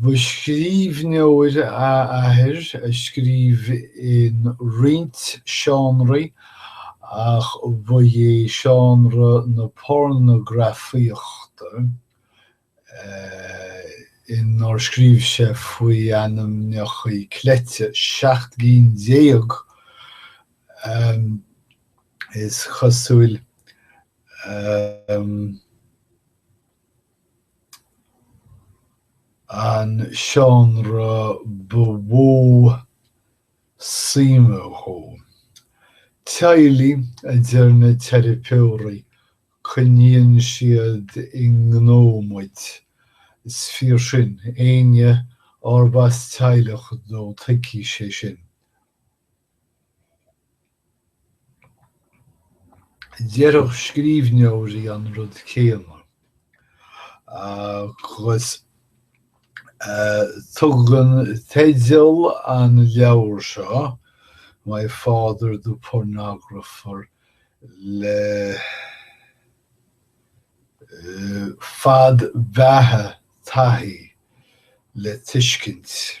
Ba scríbhneoir a athair a scríobh in roinnt seánraí ach ba é seánra na pornagrafaíochta inar scríobh sé faoi ainmneachaí cleite seacht gcinn déag is cosúil. An seánra ba mhó suim dhó. Teaghlaigh, a deir na teiripeoirí, coinníonn siad i ngnó muid. Is fíor sin, éinne arb as teaghlach dó tuigfidh sé sin. Déarfadh scríbhneoirí an rud céanna, agus tugann teideal an leabhair seo, My Father the Pornographer, le fad beatha taithí le tuiscint.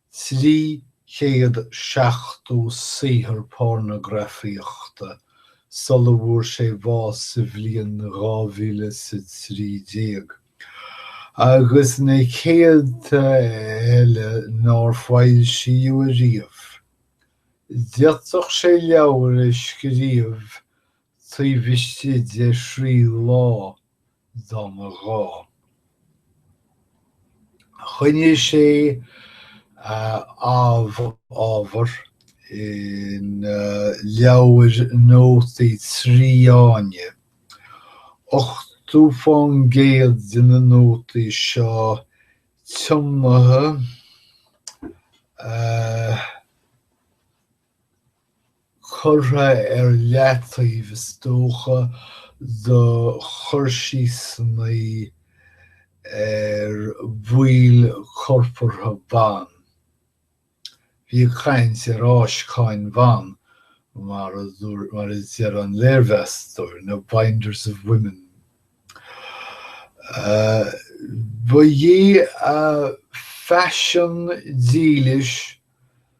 300 seachtó saothar pornagrafaíochta sula bhfuair sé bás sa bhliain 2013, agus na céadta eile nár foilsíodh ariamh. D'fhéadfadh sé leabhar a scríobh taobh istigh de thrí lá, dá mba ghá. Choinnigh sé a amh-ábhar ina leabhair nótaí trí fháinne, ochtó fán gcéad de na nótaí seo tiomnaithe a. curtha ar leataobh is dócha do chur síosannaí ar bhaill corpartha ban. Bí ag caint ar fháisceáin ban, mar a deir an léirmheastóir, na binders of women. Ba é a phaisean dílis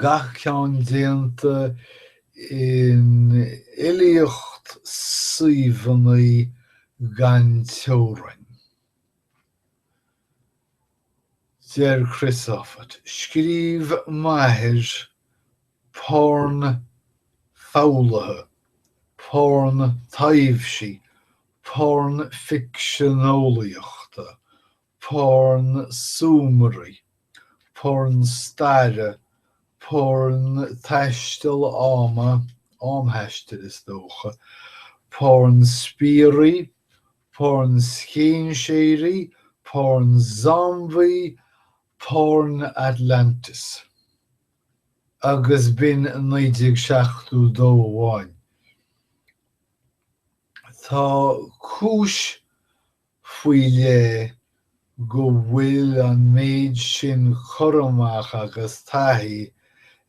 gach ceann déanta in iliomad suíomhanna gan teorainn. Deir Chris Offutt, Scríobh m'athair porn foghlaithe, porn taibhsí, porn ficsean-eolaíochta, porn súmairí, porn staire, porn taisteal ama, am thaistil is dócha, porn spiairí, porn scéinséirí, porn zombaí, porn Atlantis. Agus b'in 1972 amháin. Tá cúis faoi leith go bhfuil an méid sin cur amach agus taithí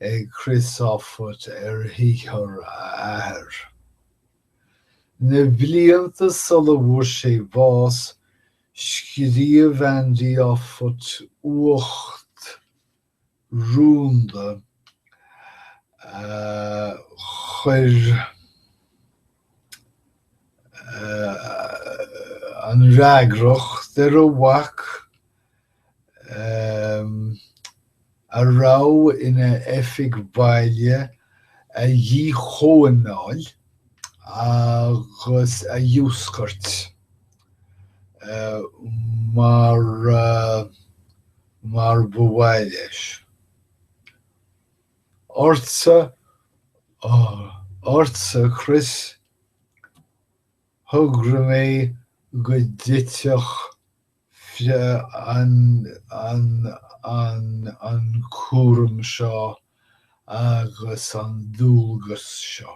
ag Chris Offutt ar shaothar a athair. Na blianta sula bhfuair sé bás, scríobh Andy Offutt uacht rúnda a chuir an fhreagracht ar a mhac, a raibh ina oifig bhaile, a dhíchóimeáil agus a dhiúscairt mar. mar ba mhaith leis. Ortsa, ortsa Chris, thogair mé go dtitfeadh an cúram seo agus an dualgas seo.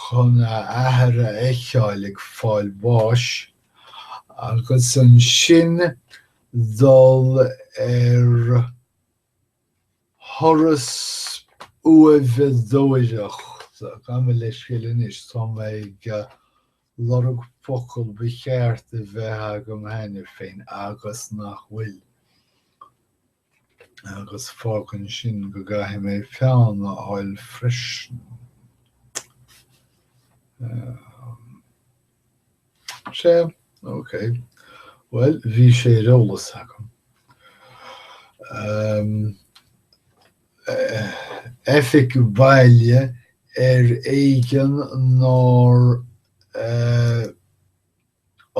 chun a athair a fheiceáil ag fáil bháis agus ansin dul ar thuras uaimheadóireachta, gabh mo leithscéal anois tá mé ag. lorg focal ba cheart a bheith agam cheana féin agus nach bhfuil, agus fágann sin go gcaithfidh mé peann a fháil freisin. Sé, ok. Bhuel, bhí sé ar eolas agam. Oifig baile ar éigean nár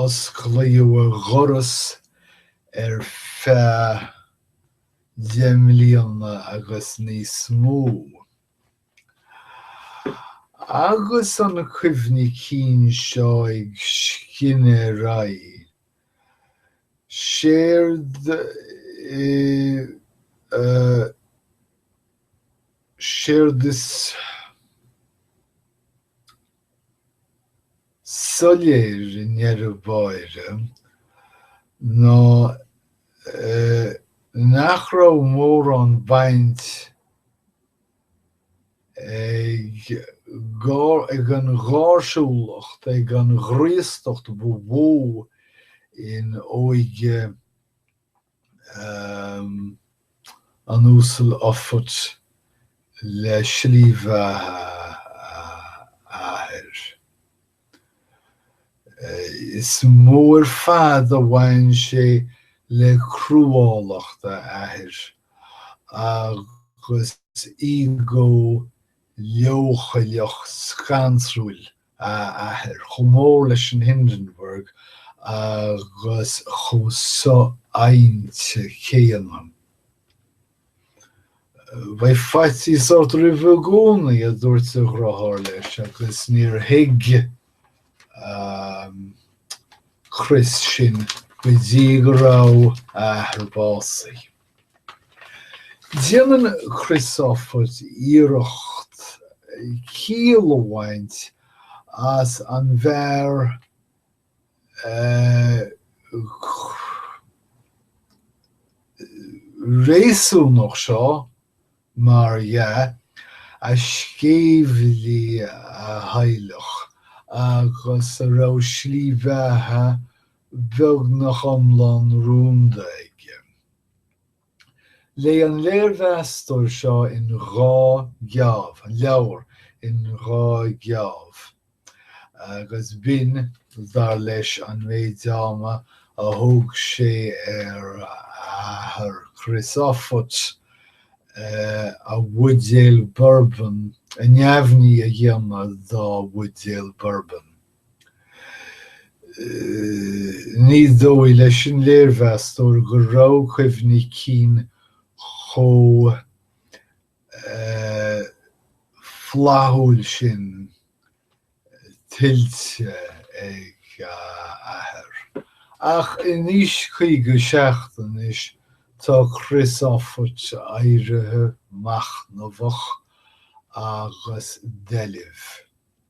osclaíodh a dhoras ar feadh deich mbliana agus níos mó. Agus an cuimhní cinn seo ag scinneadh ar aghaidh, Séard, séard is soiléir i ndeireadh báire ná nach raibh mórán baint ag an gháirsiúlacht, ag an ghraostacht ba mhó in óige an Uasail Offutt le slí bheatha a athar. Is mó ar fad a bhain sé le cruálacht a athar agus ego leochaileach scanrúil a athar, chomh mór leis an Hindenburg agus chomh so-adhainte céanna. Bheadh faitíos ort roimh i gcónaí, a dúirt a dhriotháir leis agus níor thuig Chris sin go dtí go raibh a athair básaithe. Déanann Chris Offutt iarracht ciall a bhaint as an bhfear réasúnach seo, mar dhea, a sceimhligh a theaghlach agus a raibh slí bheatha beagnach iomlán rúnda aige. Léigh an léirmheastóir seo in dhá gheábh, an leabhar in dhá gheábh, agus b'in, dar leis, an méid ama a thóg sé ar athair Chris Offutt a bhuidéal Bourbon a neamhní a dhéanamh dá bhuidéal Bourbon. Ní dóigh leis an léirmheastóir go raibh cuimhní cinn chomh flaithiúil sin tuillte ag a athair, ach in aois 57 anois tá Chris Offutt éirithe, machnamhach agus doilbh.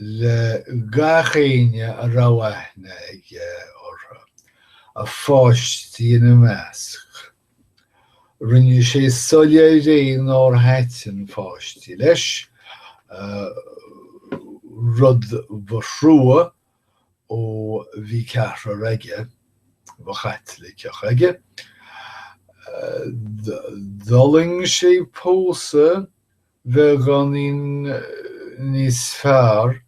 le gach éinne a raibh aithne aige orthu, a pháistí ina measc. Rinne sé soiléir é nár thaitin páistí leis, rud ba thrua ó bhí ceathrar aige ba Chaitliceach aige. D'fhulaing sé pósadh beagáinín níos fearr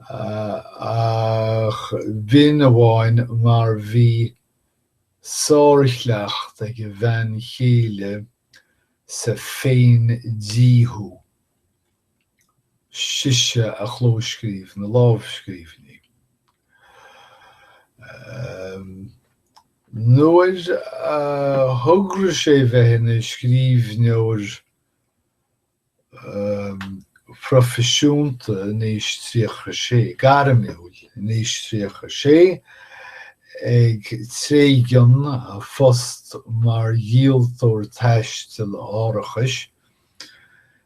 ach b'in amháin mar bhí sárchleacht ag a bhean chéile sa féin-díothú. sise a chlóscríobh na lámhscríbhinní. Nuair a thograigh sé bheith ina scríbhneoir proifisiúnta in aois 36, gairmiúil in aois 36, ag tréigean a phost mar dhíoltóir taistil árachais,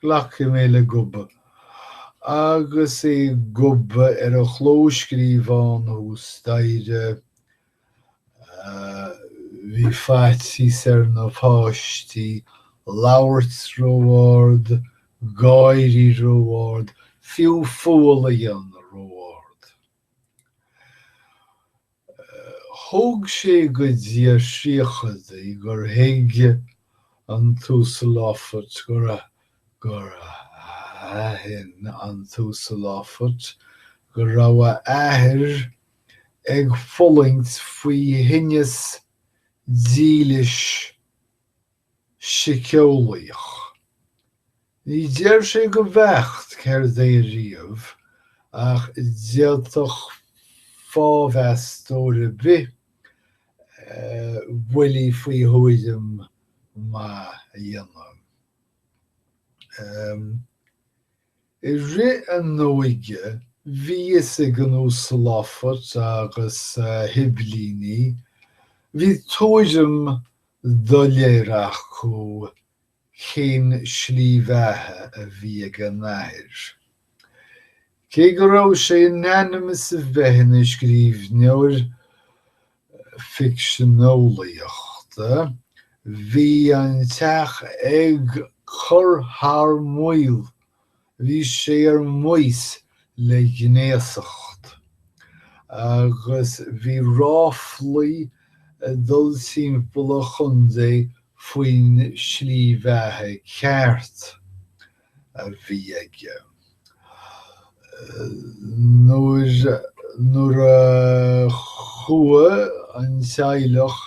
Glacfaidh mé le gobadh. Agus é ag gobadh ar a chlóscríobhán thuas staighre, bhí faitíos ar na páistí labhairt ró-ard, gáirí ró-ard, fiú fual a dhéanamh ró-ard. Thóg sé go dtí a thríochaidí gur thuig an tUasal Offutt gur gur aithin an tUasal Offutt go raibh a athair ag fulaingt faoi thinneas dílis siceolaíoch. Ní deir sé go beacht céard é riamh ach d'fhéadfadh fáthmheastóir ar bith buille faoi thuairim maith a dhéanamh. I rith a n-óige bhí a fhios ag an Uasal Offutt agus a shiblíní, bhí tuairim doiléir acu cén slí bheatha a bhí ag a n-athair. Cé go raibh sé in ainm is a bheith ina scríbhneoir, ficsean eolaíochta, bhí an teach ag cur thar maoil, bhí sé ar maos le gnéasacht agus bhí ráflaí ag dul timpeall an chontae faoin slí bheatha ceart. a bhí aige. Nuair a chuaigh an teaghlach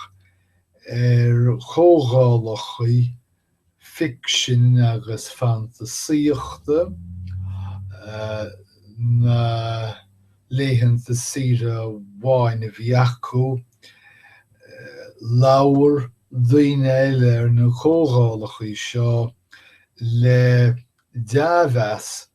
ar chomhdhálachaí ficsin agus fantasaíochta na laethanta saoire amháin a bhí acu, labhair daoine eile ar na comhdhálachaí seo le dea-mheas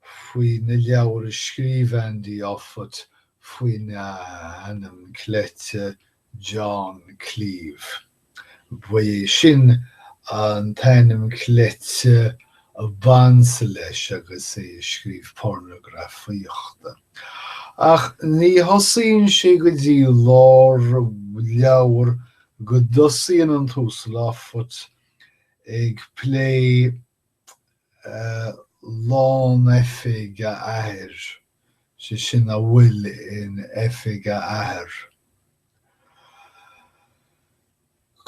faoi na leabhair a scríobh Andy Offutt faoin ainm cleite John Cleeve. Ba é sin an t-ainm cleite a b'ansa leis agus é ag scríobh pornagrafaíochta. Ach ní thosaíonn sé go dtí lár leabhar go dtosaíonn an tUasal Offutt ag plé lán oifig a athar, sé sin a bhfuil in oifig a athar.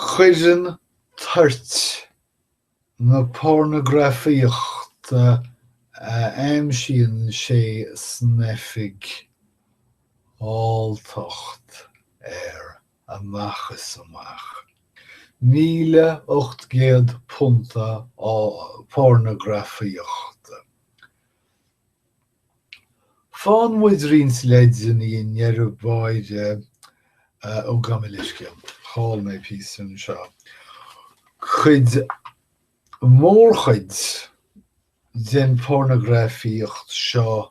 Cuireann toirt na pornagrafaíochta a aimsíonn sé san oifig alltacht air. amach is amach. 1,800 punt pornagrafaíochta. Faigheann muid roinnt leideanna i ndeireadh báire ó gabh mo leithscéal, chaill mé píosa anseo. Chuir mórchuid den pornagrafaíocht seo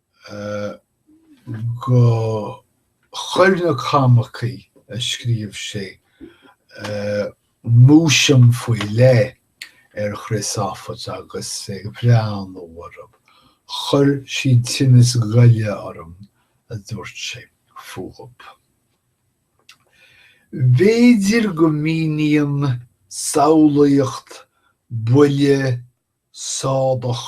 go chuir na comicí a scríobh sé múisiam faoi leith ar Chris Offutt agus ag breathnú orthu chuir siad tinneas goile orm, a dúirt sé fúthu. B'fhéidir go míníonn samhlaíocht buile sádach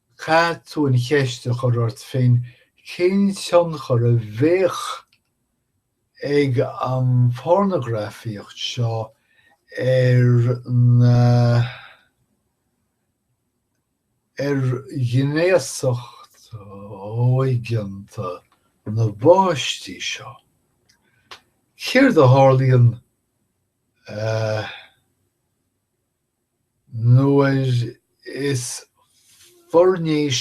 Caithfidh tú an cheist a chur ort féin cén tionchar a bheadh ag an phornagrafaíocht seo ar na ar ghnéasacht óigeanta na bpáistí seo. Céard a tharlaíonn eh. Nuair is foirnéis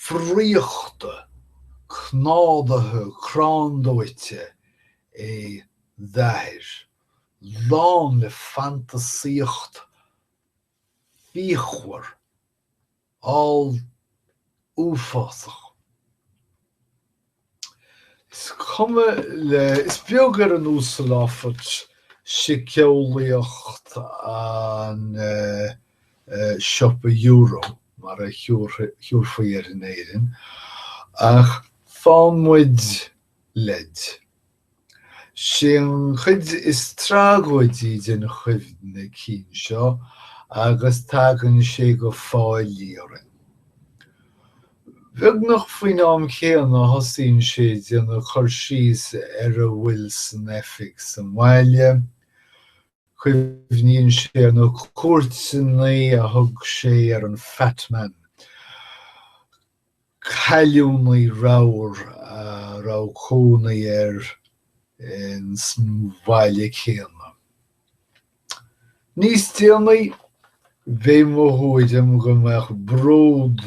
friochta cnádaithe cráindóite é d'athair, lán le fantasaíocht fíochmhar olluafásach. Is cuma le, is beag ar an Uasal Offutt síceolaíocht an siopa euro mar a thiúrfaí air in Éirinn, ach faigheann muid leid. Sí an chuid is tragóidí den chuimhne cinn seo agus tagann sé go fáilí orainn. Beagnach faoin am céanna a thosaíonn sé ag déanamh cur síos ar a bhfuil san oifig sa mbaile, cuimhníonn sé ar na cuairteannaí a thug sé ar an Fat Man, cailliúnaí ramhar a raibh cónaí air ins an bhaile céanna. Níos déanaí, b'é mo thuairim go mbeadh bród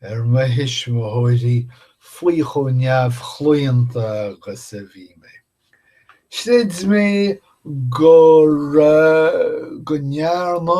ar mo thuismitheoirí faoi chomh neamhchlaonta agus a bhí mé. Chreid mé go ndearna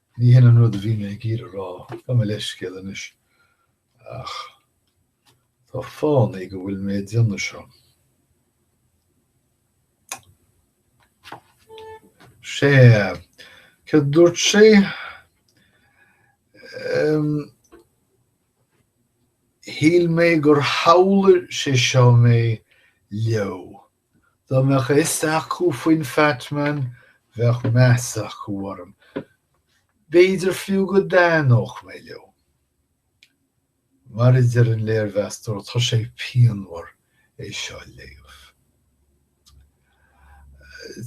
Ní hin an rud a bhí mé ag iarraidh a rá, gabh mo leithscéal anois, ach tá fánaí go bhfuil mé ag déanamh seo. Sea, cad a dúirt sé? Shíl mé gur shamhlaigh sé seo mé leo, Dá mbeadh a fhios acu faoin Fat Man, bheadh meas acu orm. B'fhéidir fiú go dtaitneodh mé leo. Mar a deir an léirmheastóir, tá sé pianmhar é seo a léamh.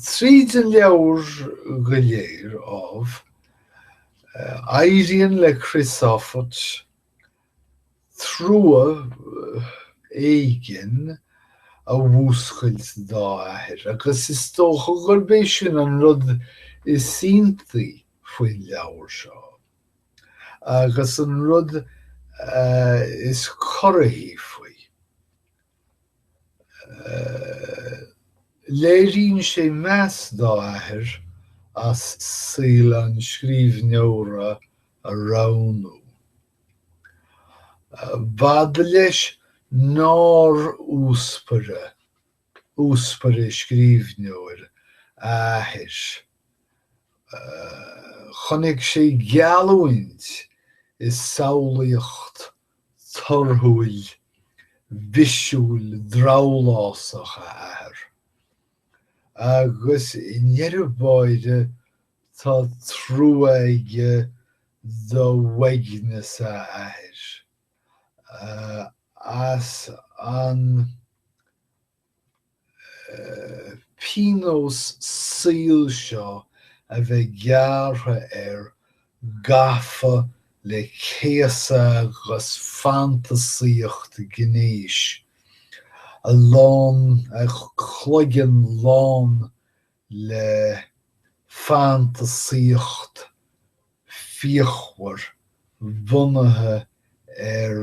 Tríd an leabhar go léir, ámh, éiríonn le Chris Offutt trua éigin a mhúscailt dá athair agus is dócha gurb é sin an rud is iontaí faoin leabhar seo agus an rud is corraithí faoi. Léiríonn sé meas dá athair as saol an scríbhneora a roghnú. B'fhada leis nár uaspaire scríbhneoir a athair. Chonaic sé geallúint i samhlaíocht torthúil bhisiúil drabhlásach a athar, agus i ndeireadh báire Tá trua aige d'uaigneas a athair as an pionós saoil seo a bheith gearrtha air gafa le céasadh agus fantasaíocht ghnéis, a lán, a chloigeann lán le fantasaíocht fíochmhar bunaithe ar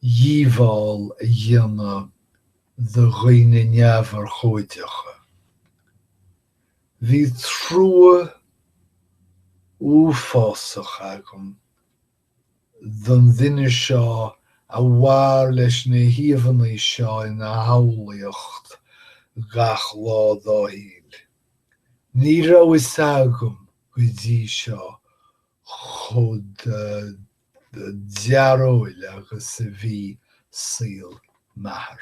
dhíobháil a dhéanamh do dhaoine neamhurchóideacha. Bhí trua uafásach agam don duine seo a mhair leis na híomhanna seo ina shamhlaíocht gach lá dá shaol. Ní raibh fhios agam go dtí seo chomh dearóil agus a bhí saol m'athar.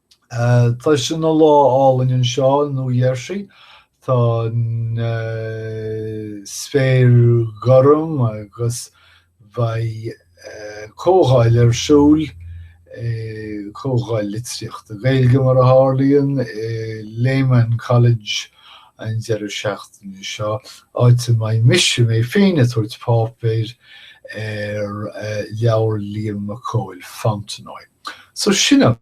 Tá sé ina lá álainn anseo i Nua Gheirsí. Tá an spéir gorm agus beidh comhdháil ar siúl, comhdháil litríochta Gaeilge mar a tharlaíonn, i Lehman College an deireadh seachtaine seo, áit a mbeidh mise mé féin ag tabhairt páipéir ar leabhar Liam Mac Cóil, Fontenoy. So sin an.